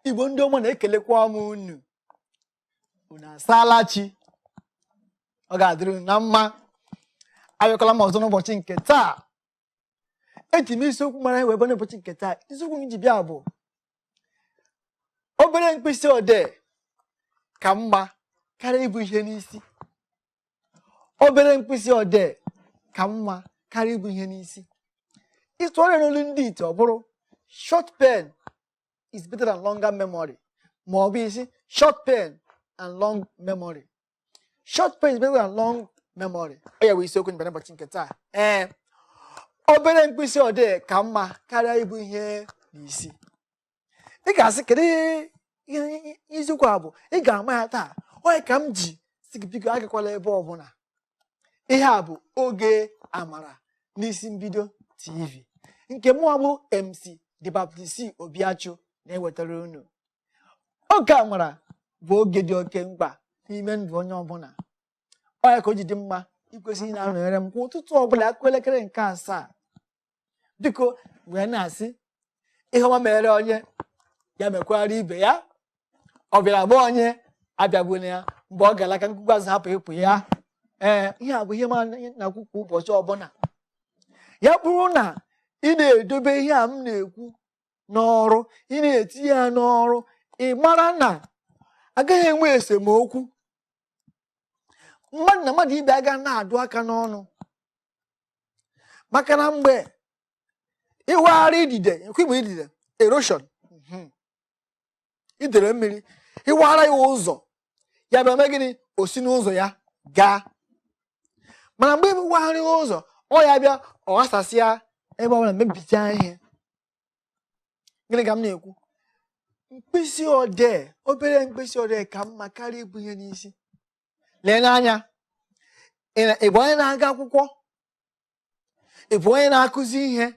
igbo ndị ọma na-ekelekwa m unu unu asaala chi ọ ga-adịrị unu na mma abịakwala m ọzọ n'ụbọchị nke taa eji m isiokwu mara wee bịa n'ụbọchị nke taa isiokwu m ji bịa bụ obere mkpịsị odee ka mma karịa ibu ihe n'isi obere mkpịsị odee ka mma karịa ibu ihe n'isi ị tụgharịa n'olu ndị ite ọ bụrụ short pen is better than longer memory ma ọ bụ ị sị short pen and long memory short pen is better than long memory ọ ya bụ isiokwu m ji bịa n'ụbọchị nke taa ee obere mkpịsị odee ka mma karịa ibu ihe n'isi ị ga-asị kedu ihe isiokwu a bụ ị ga-ama ya taa ọ ya ka m ji sị gị biko agakwala ebe ọbụla ihe a bụ oge amara n'isi mbido tv nke mụwa bụ mc the baptist obiachu na-ewetara unu oge amara bụ oge dị oke mkpa n'ime ndụ onye ọbụla ọ ya ka o ji dị mma i kwesị ịna-anọnyere m kwa ụtụtụ ọbụla a kụọ elekere nke asaa biko wee na-asị ihe ọma mere onye ya mekwara ibe ya ọ bịara nga onye abịagbuna ya mgbe ọ ga-ala ka mkpukpu azụ hapụ ịpụ ya ee ihe a bụ ihe m na-ekwu kwa ụbọchị ọbụla ya bụrụ na ị na-edobe ihe a m na-ekwu n'ọrụ ị na-etinye ya n'ọrụ ị mara na a gaghị enwe esemokwu mmadụ na mmadụ ibe ya ga na-adụ aka n'ọnụ maka na mgbe ị waara idide nke bụ idide erosion mhm. idere mmiri ị waara ya ụzọ ya bịa mee gịnị o si n'ụzọ ya gaa mana mgbe ị waghịrị ụzọ ọ ya bịa ọ ghasasịa ebe ọ bụla mebichaa ihe gịnị ka m na-ekwu mkpịsị odee obere mkpịsị odee ka mma karịa ibu ihe n'isi lee n'anya ị bụ onye na-aga akwụkwọ ị bụ onye na-akụzi ihe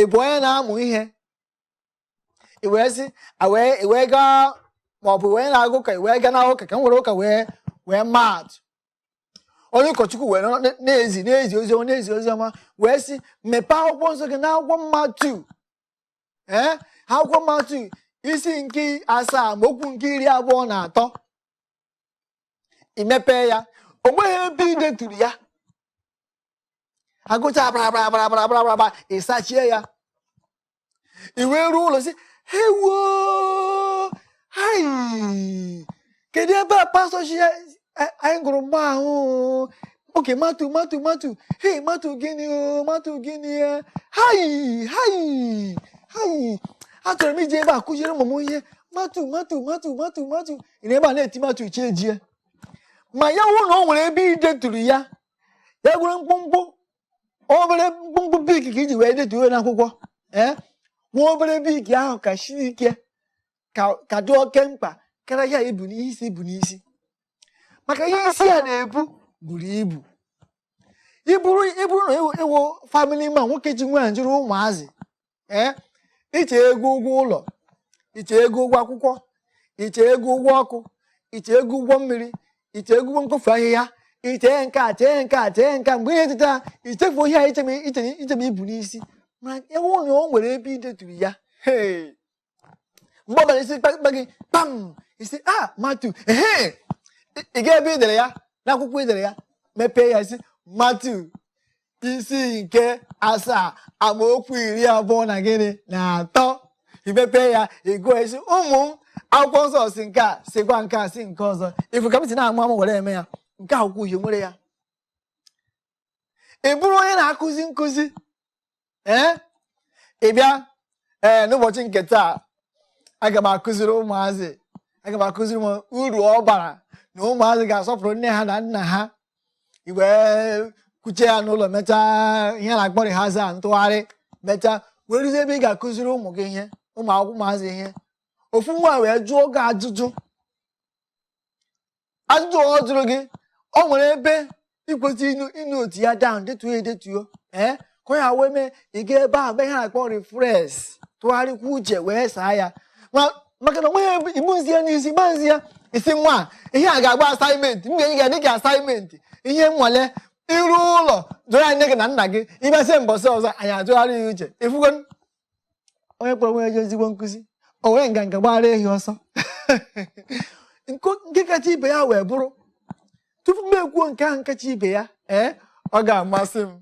ị bụ onye na-amụ ihe i wee sị i wee gaa maọbụ ị bụ onye na-aga ụka i wee gaa n'ụka ka m were ụka wee wee maa atụ onye ụkọchukwu wee na-ezi na-ezi oziọma na-ezi oziọma wee sị mepee akwụkwọ nsọ gị n'akwụkwọ Matiu ee akwụkwọ Matiu isi nke asaa amaokwu nke iri abụọ na atọ i mepee ya o nweghị ebe ị deturu ya a gụchaa abarabarabarabarabaraba ị sachie ya i wee ruo ụlọ sị hewoo hai kedu ebe a pastọ sị ya eh, anyị gụrụ mgbe ahụ okay matu matu matu hei matu gịnị o matu gịnị ya hayi hayi hayi achọrọ m iji ebe a kụziere ụmụ m ihe matu matu matu matu matu ị na ebe a na-eti matu chi ejie ma ya wụ na o nwere ebe ideturu ya ya wụrụ mkpụmkpụ obere mkpụmkpụ bik ka iji wee detuo n'akwụkwọ ee eh? nwa obere bik ahụ ka siri ike ka dị oke mkpa karịa ihe ibu n'isi ibu n'isi maka ihe isi a na-ebu buru ibu ịbụrụ na ịwụ family man nwoke ji nwaanyị jiri ụmụazị ee eh, iche ego ụgwọ ụlọ iche ego ụgwọ akwụkwọ iche ego ụgwọ ọkụ iche ego ụgwọ mmiri iche ego ụgwọ mkpofu ahịhịa iche nke a chee nke a chee nke a mgbe ị ya-eteta ichefu ihe a ichebe ibu n'isi ma ya wụ na o nwere ebe ideturu ya mgbe ọbụla isi kpakpa gị kpam ị sị ah, matu ehe ị ga ebe idere ya n'akwụkwọ idere ya mepee ya ị sị matu isi nke asaa amaokwu iri abụọ na gịnị na atọ imepe ya ịgụọ ị sị ụmụ m akwụkwọ nsọ sị nke a sịkwa nke a sị nke ọzọ ịfụ ka m si na-amụ amụ were eme ya nke akwụkwọ uhie nwere ya ị bụrụ onye na-akụzi nkụzi ee ị bịa ee n'ụbọchị nke taa aga m akụziri ụmụazị aga m akụziri m uru ọ bara na ụmụazị ga-asọpụrụ nne ha na nna ha i wee kwuchaa ya n'ụlọ mechaa ihe a na-akpọ rehearsal ntụgharị mechaa wee ruzie ebe ị ga-akụziri ụmụ gị ihe ụmụ akwụkwọ ụmụazị ihe ofu nwa wee jụọ gị ajụjụ ajụjụ ọ jụrụ gị ọ nwere ebe ikwesị ị note ya down detuo ya edetuo ee ka ya wee mee ị ga ebe a mee ihe a kpọrọ refresh tụgharịkwa uche wee saa ya maka na onweghị ibuzi ya n'isi gba nzi ya ị sị nwa ihe a ga-abụ assignment m ga-enye gị dịka assignment ihe nwale iru ụlọ jụrụ anyị nne gị na nna gị ịbịazie mbọsị ọzọ anyị atụgharịa ya uche ịfụgo onye kpọrọ onwe ya ezigbo nkụzi o were nganga gbara ehi ọsọ nke kacha ibe ya wee bụrụ tupu m ekwuo nke ahụ nkacha ibe ya ee ọ ga-amasị m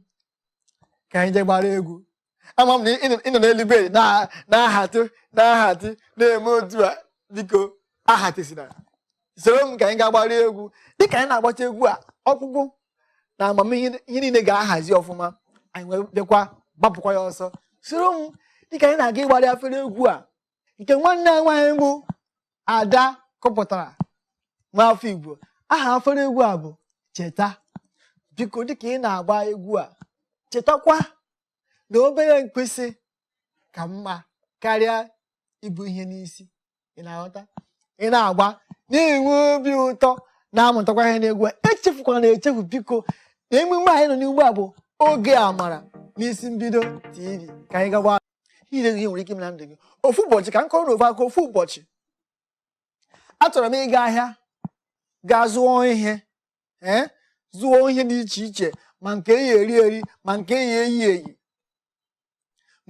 ka anyị jee gbara egwu ama m na ịnọ n'elu bed na-ahatị na-ahatị na-eme otu a biko ahatịsina soro m ka anyị ga gbara egwu dịka anyị na-agbata egwu a ọkpụkpụ na amamihe ihe niile ga-ahazi ọfụma anyị wee bịakwa gbapụkwa ya ọsọ soro m dịka anyị na-aga ịgbarị afere egwu a nke nwanne anyị nwaanyị bụ ada kụpụtara nwa afọ igbo aha afere egwu a bụ cheta biko dịka ị na-agba egwu a chetakwa na obere mkpịsị ka mma karịa ibu ihe n'isi ị na-aghọta ị na-agba na-enwe obi ụtọ na-amụtakwa ihe n'egwu echefukwana echefu biko na emume anyị nọ n'ugbu a bụ oge amara n'isi mbido tv ka anyị gawa ile ihe nwere ike ime na ndụ gị ofu ụbọchị ka m kọrọ unu ofu akụkọ ofu ụbọchị achọrọ m ịga ahịa gaa zụọ ihe ee zụọ ihe dị iche iche ma nke eyi eri eri ma nke eyi eyi eyi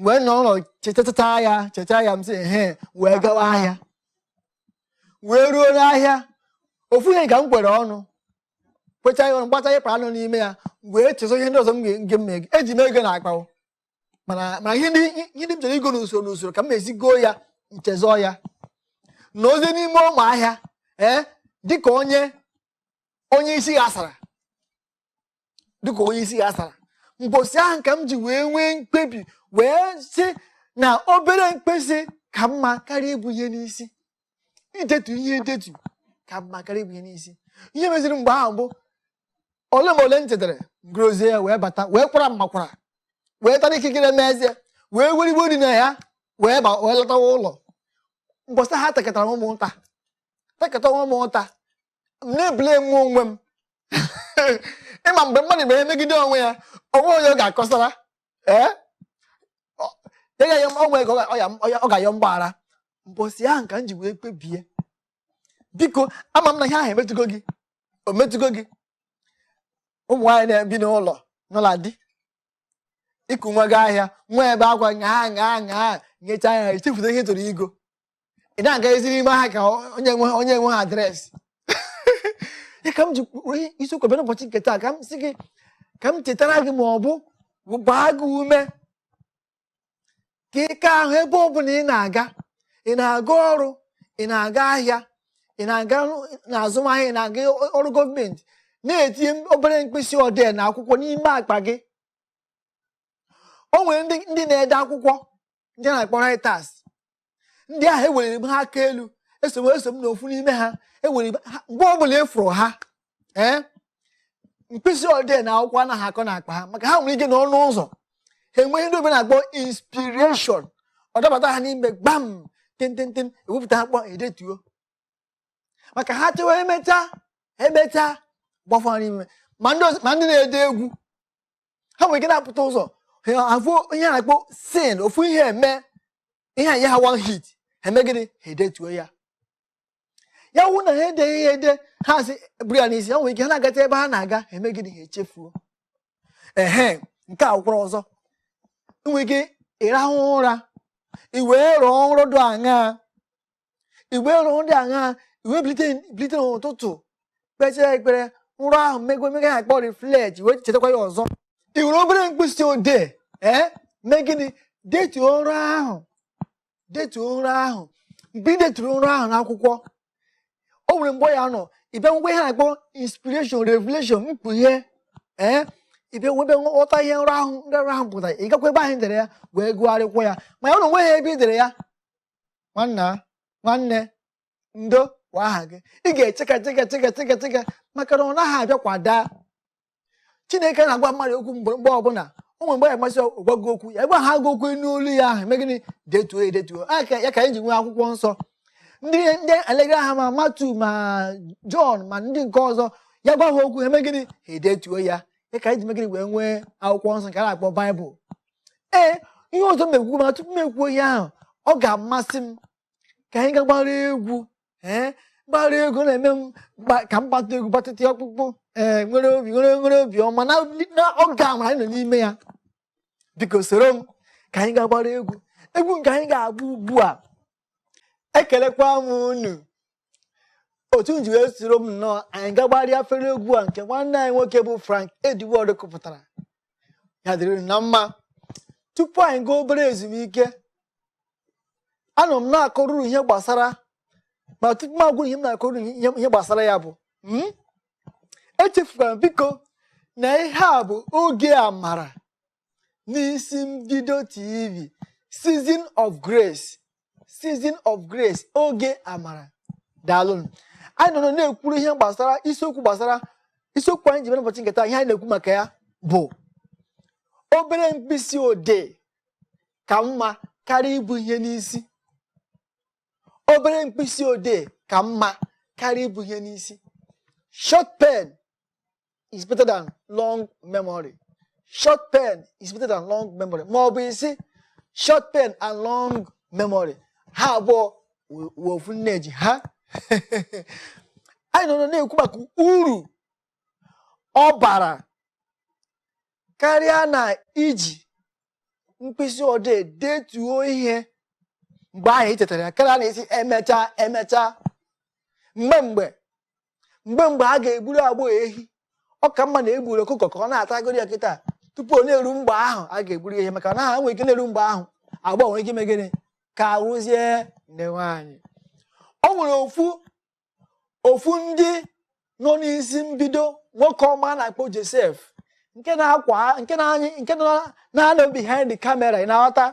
wee nọ ụlọ chechaa ya chechaa ya m sị he wee gawa ahịa wee ruo n'ahịa ofu ihe ka m kwere ọnụ kwecha ya ọnụ gbata ịkpa anụ n'ime ya wee chezọ ihe ndị ọzọ m ga-eme eji m ego n'akpa mana ihe ndị m chere igo n'usoro n'usoro ka m esi goo ya m chezọ ya nọrọzie n'ime ụmụ ahịa ee eh, dịka onye onye isi ghasara dịka onye isi ghasara mbosi ahụ ka m ji wee nwee mkpebi wee sị na obere mkpịsị ka mma karịa ibu ihe n'isi idetu ihe edetu ka mma karịa ibu ihe n'isi ihe meziri mgbe ahụ bụ ole ma ole m chetara m gorozie ya wee bata wee kwara mmakwara wee tara ikikere m eze wee werigbo dị na ya wee lọtawa ụlọ mbosi ahụ atakatara m onwe m ụta takata onwe m ụta na-ebule iwe onwe m ịma mgbe mmadụ mere ihe megide onwe ya o nwe onye ọ ga-akọsara ee ya ya onwe ya ka ọ ga-ayọ mgbaghara mbọsi ahụ ka m ji wee kpebie biko ama m na ihe ahụ emetụgo gị o metụgo gị ụmụ nwaanyị na-ebi n'ụlọ n'ụlọ di i ku nwa gaa ahịa nwa ebe akwa nyaa nyaa nyaa nyechaa ya ichefuta ihe ị chọrọ igo ị na-agazi n'ime ahịa ka onye nwe onye enweghị adreesị ya ka m ji isiokwu bịa n'ụbọchị nke taa ka m sị gị ka m chetara gị ma ọ bụ gbaa gị ume ka ike ahụ ebe ọ bụla ị na-aga ị na-aga ọrụ ị na-aga ahịa ị na-aga n'azụmahịa ị na-aga ọrụ gọọmenti na-etinye obere mkpịsị odee na akwụkwọ n'ime akpa gị o nwere ndị na-ede akwụkwọ ndị a na-akpọ writers ndị ahụ eweliri m ha aka elu eso m eso m n'ofu n'ime ha mgbe ọ bụla ị fụrụ ha ee mkpịsị odee na akwụkwọ anaghị akọ n'akpa ha maka ha nwere ike nọ n'ụzọ ha enwee ihe ndị oyibo na-akpọ inspiration ọ dabata ha n'ime gbam tententen ewepụta akwụkwọ edetuo maka ha chewa emecha emecha gbafọ ha n'ime ma ndị na-ede egwu ha nwere ike na-apụta ụzọ afụ ihe a na-akpọ scene ofu ihe eme ihe enye ha one hit ha eme gịnị ha edetuo ya ya wụ na ha edeghị ya ede ha asị buru ya n'isi ha nwere ike ha na-agata ebe ha na-aga ha eme gịnị ha echefuo ehe nke a kwụrụ ọzọ i nwere ike ịrahụ ụra i wee rọọ nrọ dị aṅaa igbe ọrụ ndị agha i wee bilite n'ụtụtụ kpechaa ekpere nrọ ahụ mmegwe mee ihe a kpọrọ reflect wee chetakwa ya ọzọ i were obere mkpịsị odee ee eh? mee gịnị detuo nrọ ahụ detuo nrọ ahụ mgbe ị deturu nrọ ahụ n'akwụkwọ o nwere mgbe ị ga-anọ ị bịa nwekwa ihe a na-akpọ inspiration revelation mkpughe ee eh? ị bịa nwebe nghọta ihe nrọ ahụ ndị nrọ ahụ pụtara ị gakwa ebe ahụ i dere ya wee gụgharịkwa ya ma ya na o nweghị ebe i dere ya nwanna nwanne ndo wụ aha gị ị ga-echeka cheka cheka cheka cheka maka na ọ naghị abịa kwada chineke na-agwa mmadụ okwu mgbe ọbụla o nwere mgbe ya masị gwa gị okwu ya gwaa gị okwu n'olu ya ahụ eme gịnị detuo edetuo ya ka anyị ji nwee akwụkwọ nsọ ndị ndị alegara ha ma matu ma jọn ma ndị nke ọzọ ya gwa ha okwu eme gịnị ha edetuo ya ya ka anyị ji megịnị wee nwee akwụkwọ nsọ nke a na-akpọ baịbụl ee ihe ọzọ m ga-ekwu ma tupu m ekwuo ihe ahụ ọ ga-amasị m ka anyị ga gbara egwu ee gbara egwu na-eme m ka m gbata egwu gbatịta ọkpụkpụ ee nwere obi nwere nwere obi ọma na oge amara anyị nọ n'ime ya biko soro m ka anyị ga gbara egwu egwu nke anyị ga-agba ugbu a ekelekwa m unu otu unu ji wee soro m nnọọ anyị ga gbarịa fere egwu a nke nwanne anyị nwoke bụ Frank Edward kụpụtara ya dịrị unu na mma tupu anyị gaa obere ezumike anọ m na-akọrọ unu ihe gbasara ma tupu m agwa unu ihe m na-akọrọ unu ihe gbasara ya bụ hmm? echefukwana biko na ihe a bụ oge amara n'isi mbido TV Season of Grace Season of Grace oge amara daalụnụ anyị nọ na-ekwuru ihe gbasara isiokwu gbasara isiokwu anyị ji mere ụbọchị nke taa ihe anyị na-ekwu maka ya bụ obere mkpịsị odee ka mma karịa ibu ihe n'isi obere mkpịsị odee ka mma karịa ibu ihe n'isi short pen is better than long memory short pen is better than long memory ma ọ bụ ị sị short pen and long memory ha abụọ wụ ofu nne ji ha anyị nọ na-ekwu maka uru ọ bara karịa na iji mkpịsị odee detuo ihe mgbe ahụ i chetara ya karịa na ịsị emechaa emechaa mgbe mgbe mgbe mgbe a ga-egburu agbọghọ ehi ọ ka mma na e gburu ọkụkọ ka ọ na-atagoro ya kịta tupu ọ na-eru mgbe ahụ a ga-egburu ya ehi maka na ha nwere ike na-eru mgbe ahụ agbọghọ nwere ike ime gịnị kaa wụzie nne nwaanyị o nwere ofu ofu ndị nọ n'isi mbido nwoke ọma a na-akpọ Josef nke na-akwa nke na-anyị nke na-anọ behind the camera ị na-aghọta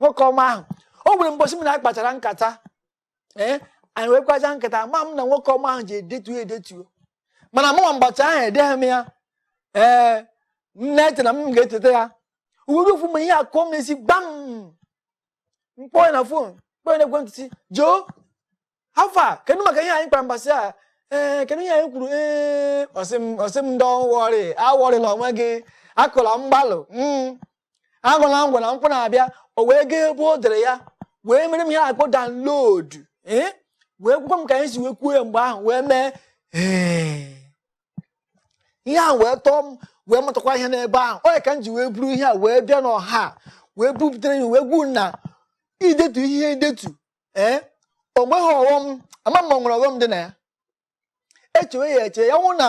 nwoke ọma ahụ o nwere mbọchị mụ na ya kpachara nkata ee anyị wee kpachaa nkata mana nwoke ọma ahụ ji edetuo edetuo mana mụnwa mgbachi ahụ edeghị m ya ee m na-eche na m ga-echeta ya o wee ruo ofu mgbe ihe akụọ m n'isi gbam m kpọọ ya na phone m kpọọ ya na ekwentị sị Joe how far kedu maka ihe anyị kpara mbọsị a ee eh, kedu ihe anyị kwuru ee eh, ọ sị m don't worry awọrịla onwe gị akụla mgbalụ hmm. aṅụla ngwọ na nkwụ na-abịa o wee gaa ebe o dere ya wee mere m ihe a kpọ download ee wee gwakwa m ka anyị si wee kwuo ya mgbe ahụ wee mee ihe ahụ wee tọọ m wee mụtakwa ihe n'ebe ahụ ọ ya ka m ji wee buru ihe a wee bịa n'ọha wee bupụtara ya wee gwa unu na idetu ihe edetu ee o nweghị ọghọm ama m ma o nwere ọghọm dị na ya e chewe ya eche ya wụrụ na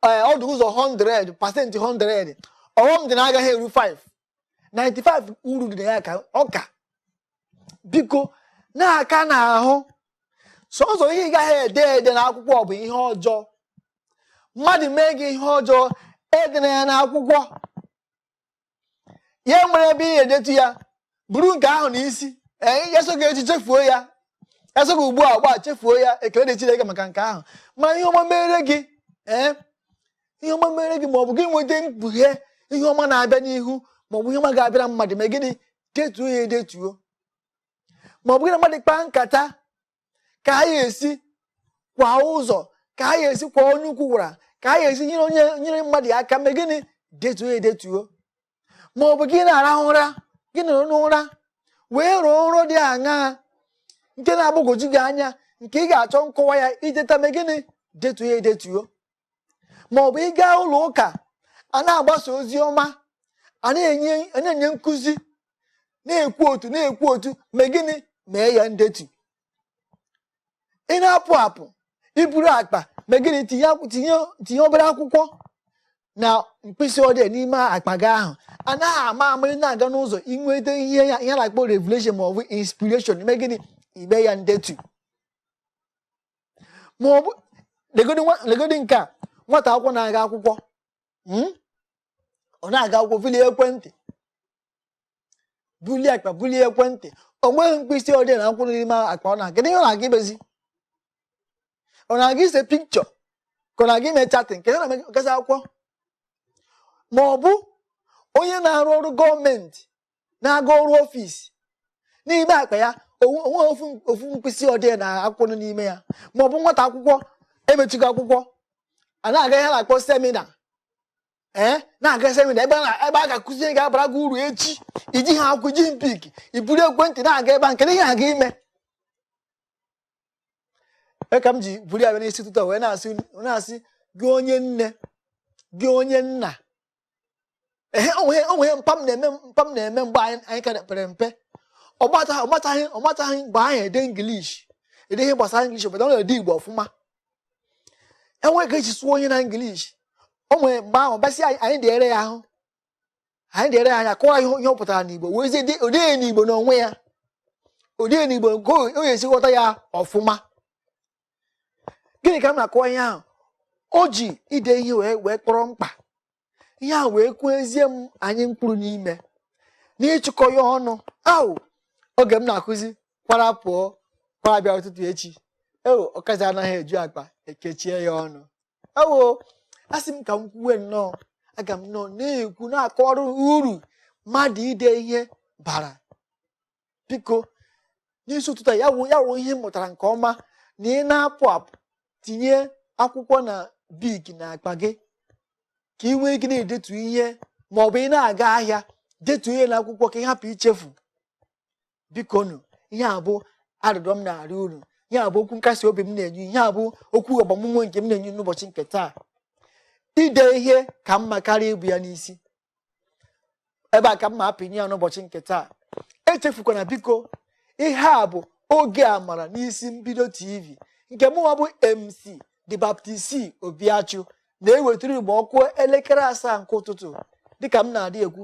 eh, ọ dị ụzọ 100 percent 100 ọghọm dị na ya agaghị eru 5 95 uru dị na ya ka ọka biko na-aka n'ahụ sọsọ ihe ị gaghị ede ede na akwụkwọ bụ ihe ọjọọ mmadụ mee gị ihe ọjọọ edena ya n'akwụkwọ ya nwere ebe ị edetu ya buru nke ahụ na isi ee ya sọ gị echi chefuo ya ya sọ gị ugbu ugbu a chefuo ya ekele dịrị Chineke maka nke ahụ ma ihe ọma mere gị ee ihe ọma mere gị ma ọ bụ gị nweta mkpughe ihe ọma na-abịa n'ihu ma ọ bụ ihe ọma ga-abịara mmadụ mee gịnị detuo ya edetuo ma ọ bụ gị na mmadụ kpaa nkata ka a ya-esi kwa ụzọ ka a ya-esi kwa onye ukwu gwara ka a ya-esi nyere onye nyere mmadụ ya aka mee gịnị detuo ya edetuo ma ọ bụ gị na-arahụ ụra gị nọrọ n'ụra wee rọọ nrọ dị aṅaa nke na-agbagwoju gị anya nke ị ga-achọ nkọwa ya i teta mee gịnị detuo ya edetuo ma ọ bụ ị gaa ụlọ ụka a na-agbasa ozi ọma a na-enye nkụzi na-ekwu otu na-ekwu otu mee gịnị mee ya ndetu ị na-apụ apụ i buru akpa mee gịnị tinye obere akwụkwọ na mkpịsị odee n'ime akpa gị ahụ a naghị ama ama ị na-aga n'ụzọ i nweta ihe a na-akpọ revelation ma ọ bụ inspiration i mee gịnị i mee ya ndetu ma ọ bụ legodi nwa- legodi nke a nwata akwụkwọ na-aga akwụkwọ mm? ọ na-aga akwụkwọ bulie ekwentị bulie akpa bulie ekwentị o nweghị mkpịsị odee na akwụkwọ n'ime akpa ọ na-aga kedu ihe ọ na-aga imezi ọ na-aga ise picture ka ọ na-aga ime chatting kedu ihe ọ na-eme gazi akwụkwọ ma ọ bụ onye na-arụ ọrụ government na-aga ọrụ ọfịs n'ime akpa ya o nweghị ofu mkpịsị odee na akwụkwọ nọ n'ime ya ma ọ bụ nwata akwụkwọ emechigo akwụkwọ a na-aga ihe a na-akpọ semina ee eh, na-aga semina ebe a ga-akụzi ihe ga-abara gị uru echi iji ha akwụ iji bik i buru ekwentị na-aga ebe a nke ihe a ga-eme e ka m ji buru ya bịa n'isi ụtụtụ wee na-asị gị onye nne gị onye nna ehe onwe o nwe ihe mpa m na-eme mpa m na-eme mgbe anyị anyị ka pere mpe ọ mataghị ọ mataghị ọ mataghị mgbe ahụ ede english ede ihe gbasara english obodo ọ na-ede igbo ọfụma e nwere ka e si sụọ ihe na english o wee mgbe ahụ bịa sị anyị anyị deere ya ahụ anyị deere ya anyị akọwa ihe ihe ọ pụtara n'igbo wee zie de- o dee n'igbo n'onwe ya o dee n'igbo nke o o ga-esi ghọta ya ọfụma gịnị ka m na-akọwa ihe ahụ o ji ide ihe wee wee kpọrọ mkpa ihe a wee kwuo ezie m anyị mkpụrụ n'ime n'ịchịkọ ya ọnụ ahụ oge m na-akụzi kwara pụọ kwara bịa ụtụtụ echi eo ọkazi anaghị eju akpa ekechie ya ọnụ ewo a sị m ka m kwuwe nnọọ aga m anọ na-ekwu na-akọrọ uru mmadụ ide ihe bara biko n'isi ụtụtụ ya wụ ya wụ ihe m mụtara nke ọma na ị na-apụ apụ tinye akwụkwọ na bik na akpa gị ka ị nwee ike na-edetu ihe ma ọ bụ ị na-aga ahịa detu ihe na akwụkwọ ka ị hapụ ichefu bikonụ ihe a bụ arịrịọ m na-arịọ unu ihe a bụ okwu nkasi obi m na-enye ihe a bụ okwu agbamume nke m na-enye n'ụbọchị nke taa ide ihe ka mma karịa ibu ya n'isi ebe a ka m ma apịnye ya n'ụbọchị nke taa echefukwana biko ihe a bụ oge amara n'isi mbido tv nke mụnwa bụ mc the baptist obiachu na-ewetara igbo ọ kụọ elekere asaa nke ụtụtụ dịka m na-adị ekwu